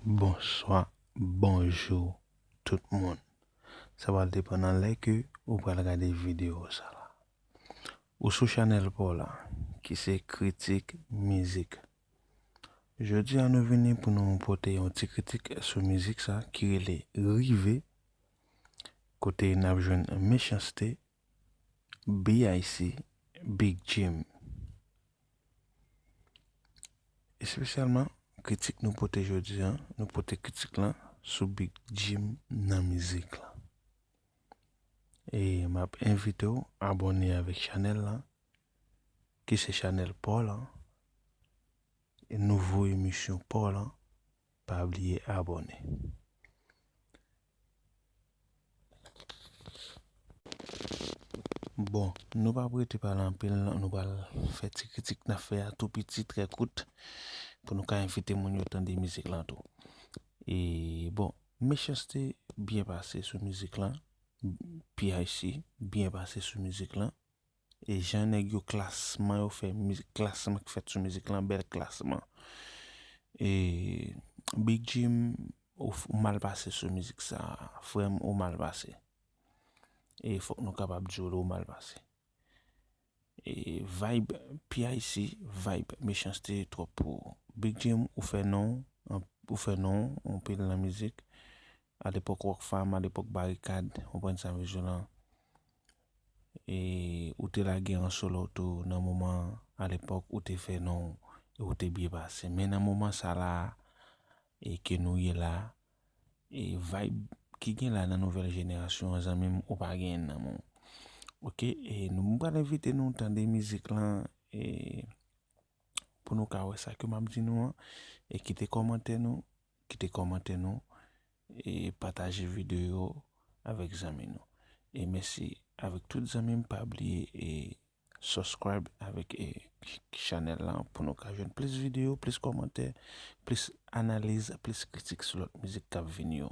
Bonswa bonjou tout moun sa pral depan nan lè ke ou pral gade video sa ou sou chanèl paw la ki se kritik mizik jodi a nou vini pou nou pote yon ti kritik sou mizik sa ki rele rive kote nap jwenn mechanste BIC Big Jim Espesyalman kritik nou pote jodi an nou pote kritik lan sou Big Jim nan mizik lan e map envite w abòne avèk chanèl lan ki se chanèl paw lan e nouvo emisyon paw lan pa bliye abòne. Bon, nou pa pou rete pale anpil, nou pral fè ti kritik n ap fè a tou piti, trè kout, pou nou ka envite moun yo tande mizik lan tou. E, bon, Mechanste byen pase sou mizik lan, PIC byen pase sou mizik lan. E jan nèg yo klasman yo fè mizik klasman ki fèt sou mizik lan bèl klasman e big jim ou mal pase sou mizik sa frèm ou mal pase e fòk nou kapab diw lè ou mal pase e vayb PIC vayb mechanste twòp pou ou big jim ou fè non ou fè non anpil nan mizik A lepòk Rockfam, a lepòk Barikad, konprann sa m vle jou lan. E ou te lage an solo tou nan moman an, a lepòk ou te fè non w e ou te byen pase. Men nan moman sa la a e ke nou ye la e vayb ki gen la nan nouvèl jenerasyon an zanmi m ou pa genyen l nan men w. Ok e nou m pral envite nou tande mizik lan e pou nou ka wè sa ke m ap di nou an e kite kòmantè nou kite kòmantè nou e pataje video avèk zanmi nou e mèsi avèk tout zanmim pa bliye e subscribe avèk e chanèl la pou nou ka jwenn plis video plis kòmantè plis analiz plis kritik sou lòt mizik kap vini yo.